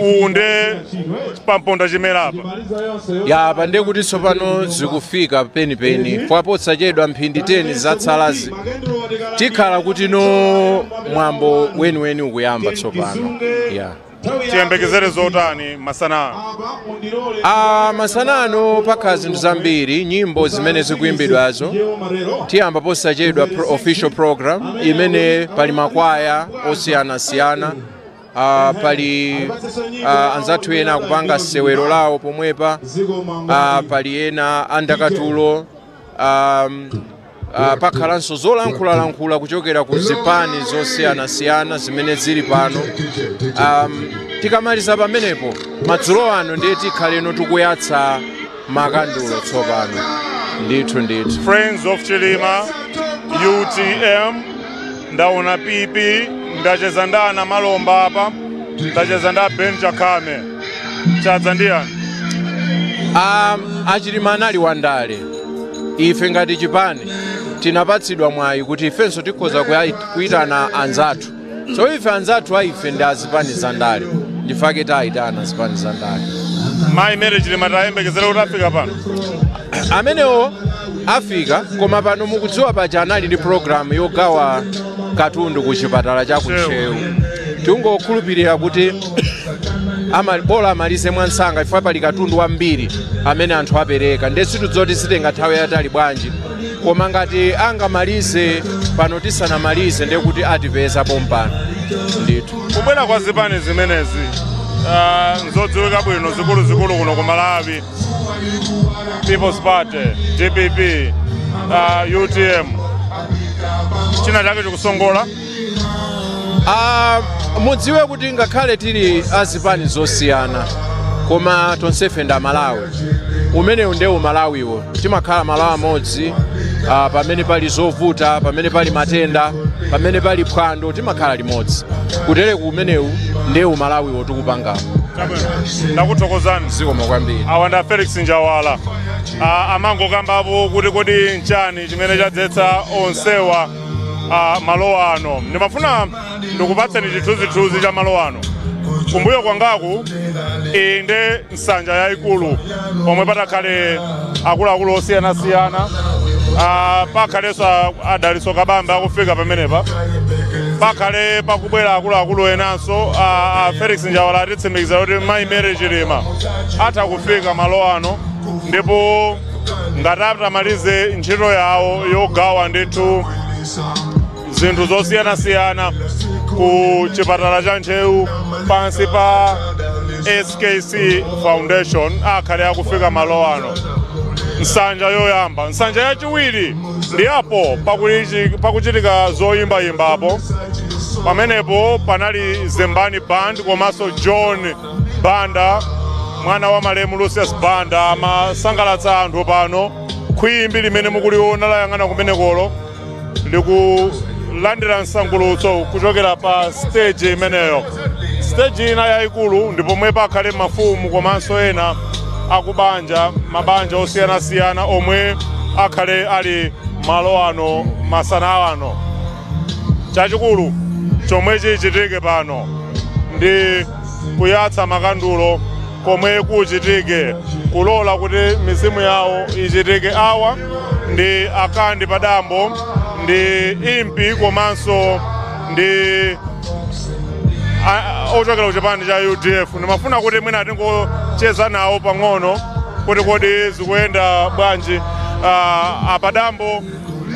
uwu nde pa mponda chimera apa ya apa ndiye kuti tsopano zikufika penipeni posachedwa mphindi 10 zatsalazi tikhala kuti no mwambo weniweni ukuyamba tsopano ya tiyembekezere zotani masana a masana ano pakhala zinthu zambiri nyimbo zimene zikuyimbidwazo tiyamba posachedwa official program imene pali makwaya osiyanasiyana Ah, pali ah, anzathu ena akupanga sewero lawo pomwepa ah, pali ena andakatulo um, ah, pakhalanso zolankhulalankhula kuchokera ku zipani zosiyanasiyana zimene zili pano um, tikamaliza pamenepo madzulo ano ndiye tikhaleno tikuyatsa makandulo tsopano ndithu ndithu friends of chilima utm ndaona pp ndacheza ndi a Namalomba apa ndacheza ndi a Ben Chakhame chadza ndi yani um, a Chilima anali wandale ife ngati chipani tinapatsidwa mwayi kuti ifenso tikhoza kuya- kuyitana anzathu So ife anzathu a ife ndi azipani za ndale ndifake tayitana azipani za ndale mayi Mary Chilima tiyembekezere kuti afika pano amenewo afika koma pano mukudziwa paja anali ndi programu yogawa katundu ku chipatala cha ku Ntcheu tingokhulupirira kuti ama- bola amalize mwansanga chifukwa pali katundu wambiri amene anthu apereka nde sitidzoti sitenga nthawi yatali bwanji koma ngati angamalize pano tisanamalize ndiye kuti atipeza pompano ndithu kubwera kwa zipani zimenezi ah, nzodziwika bwino zikuluzikulu kuno ku malawi People's Party dpp ah, utm china chake chikusongola Ah, mudziwe kuti ngakhale tili azipani zosiyana koma tonsefe ndi amalawi umenewu nde umalawiwo timakhala malawi amodzi ah, pamene pali zovuta pamene pali matenda pamene pali phwando timakhala limodzi kutereku umenewu nde umalawiwo tikupangamo ndakuthokozani zikomo kwambiri awa nda Felix Njawala Ah, amangokambapo kuti kodi nchani chimene chadzetsa onsewa uh, malo ano ndimafuna ndikupatseni chithunzithunzi cha malo ano kumbuyo kwangaku inde nsanja yayikulu pomwe patakhale akuluakulu osiyanasiyana uh, pakhalenso a Dalitso Kabambe akufika pamenepa pakhale pakubwera akuluakulu enanso a felix njawala atitsimikiza kuti mayi mary chilima atha kufika malo ano ndipo ngati atamalize ntchito yawo yogawa ndithu zinthu zosiyanasiyana ku chipatala cha ntcheu pansi pa skc foundation akhale akufika malo ano nsanja yoyamba nsanja yachiwiri ndi apo pakulichi- pakuchitika zoyimbayimbapo pamenepo panali zembani band komanso john banda mwana wa malemu lucius banda amasangalatsa anthu pano khwimbi limene mukuliona layang'ana kumenekolo likulandira msangulutso kuchokera pa stage imeneyo stage ina yayikulu ndi pomwe pakhale mafumu komanso ena akubanja mabanja osiyanasiyana omwe akhale ali malo ano masana ano Chachikulu chomwe chichitike pano ndi kuyatsa makandulo komwe kuchitike kulola kuti mizimu yawo ichitike. Awa ndi a Kandi Padambo, ndi Impi komanso ndi a- ochokera ku chipani cha udf ndimafuna kuti mwina tingocheza nawo pang'ono kuti kodi zikuyenda bwanji Ah, a Padambo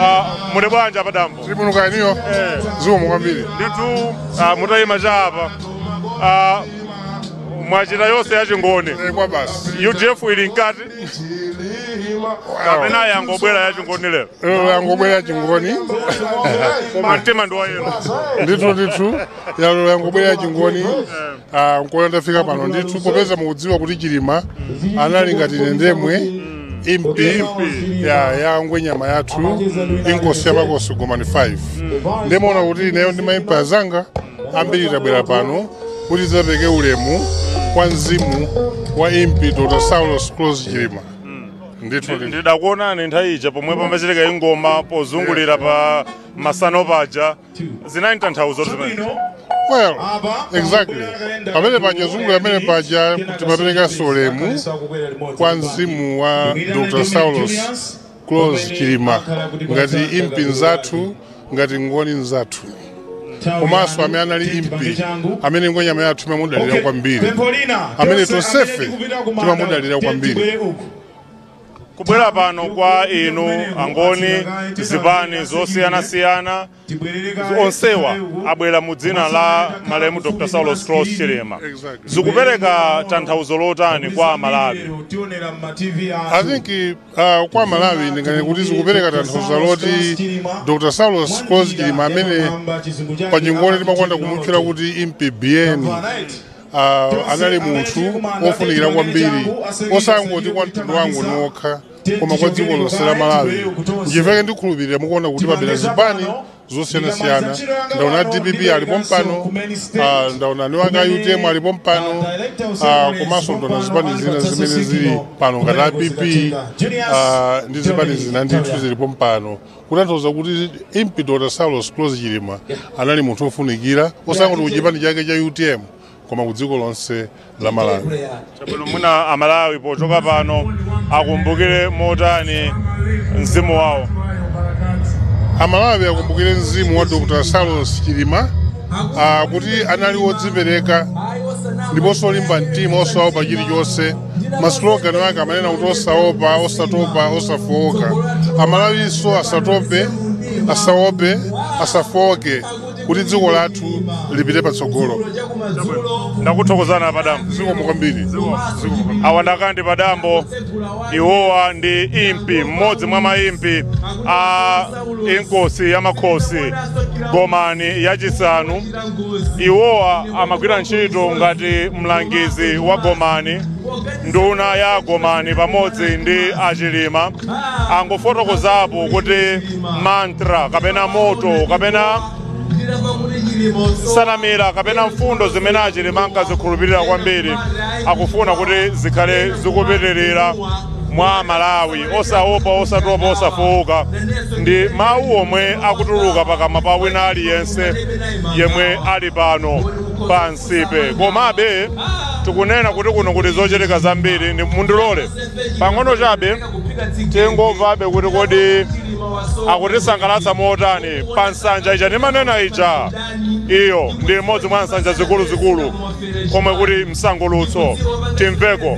Ah, muli bwanji a padambo tili bwino kaya inuyo Eh. zikomo kwambiri ndithu ah, mutayima cha apa Ah, mwachita yonse yachingoni Eh, kwa basi udf ili mkati kapena yangobwera yachingoni lero lero yangobwera yachingoni mtima ndi wa yellow ndithu ndithu lero yangobwera yachingoni ah, nkuona ndafika pano ndithu popeza mukudziwa kuti chilima anali ngati ine ndemwe impi ya ngwenyama yathu inkosi yamakosi gomani 5 nde muona kuti ineyo ndi maimpi azanga ambiri tabwera pano kuti tidzapereke ulemu kwa mzimu wa impi dr saulos klaus chilima ndithu ndithu. ndidakuonani nthawi ija pomwe pamachitika ingoma pozungulira pa masano paja zinali tanthauzo zimene Well, exactly. Pamene paja timazungulira pamene paja timaperekanso ulemu kwa mzimu wa Dr. Saulos Klaus Chilima ngati impi nzathu ngati ngoni nzathu komanso amene anali impi amene ngwenyama yathu imamudalira kwambiri amene tonsefe timamudalira kwambiri kubwera pano kwa inu angoni zipani zosiyanasiyana onsewa abwera mu dzina la malemu dr saulos klaus chilima zikupereka tanthauzo lotani kwa amalawi I think uh, kwa Malawi ndinganene kuti zikupereka tanthauzo loti Dr. Saulos Klaus Chilima amene pa chingoni timakonda kumutchula kuti Impi Biyeni Ah, anali munthu wofunikira kwambiri osangoti kwa mtundu wa Angoni okha koma kwa dziko lonse la malawi nchifuke ndikhulupirira mukuona kuti pabwera zipani zosiyanasiyana ndaona a dpp ali pompano ah, ndaona anewaka a utm ali pompano ah, komanso ndaona zipani zina zimene zili pano ngati a pp ah, ndi zipani zina ndithu zili pompano kutanthauza kuti impi dr saulos klaus chilima anali munthu wofunikira osangoti kuchipani chake cha utm koma ku dziko lonse la malawi chabwino mwina amalawi pochoka pano akumbukire motani mzimu wawo amalawi akumbukire mzimu wa dr saulos chilima ah, kuti anali wodzipereka ndiponso olimba mtima osaopa chilichonse maslogani ake amanena kuti osaopa osatopa osafowoka amalawinso asatope asaope asafowoke kuti dziko lathu lipite patsogolo ndakuthokozani padambo zikomo kwambiri Zikomo. awa nda Kandi padambo iwowa ndi impi mmodzi mwa maimpi a inkosi ya makhosi gomani yachisanu iwowa amagwira ntchito ngati mlangizi wa gomani nduna ya gomani pamodzi ndi achilima angofotokozapo kuti mantra kapena moto kapena nsanamira kapena mfundo zimene achilima ankazikhulupirira kwambiri akufuna kuti zikhale zikupitirira mwa amalawi osaopa osatopa osafowoka ndi mawu omwe akutuluka pakamwa pa wina aliyense yemwe ali pano pa Nsipe komabe tikunena kuti kuno kuli zochitika zambiri ndiye mundilole pang'ono chabe tingomvabe kuti kodi akutisangalatsa motani pa nsanja ija ndimanena ija iyo ndi imodzi mwa nsanja zikuluzikulu komwe kuli msangulutso timveko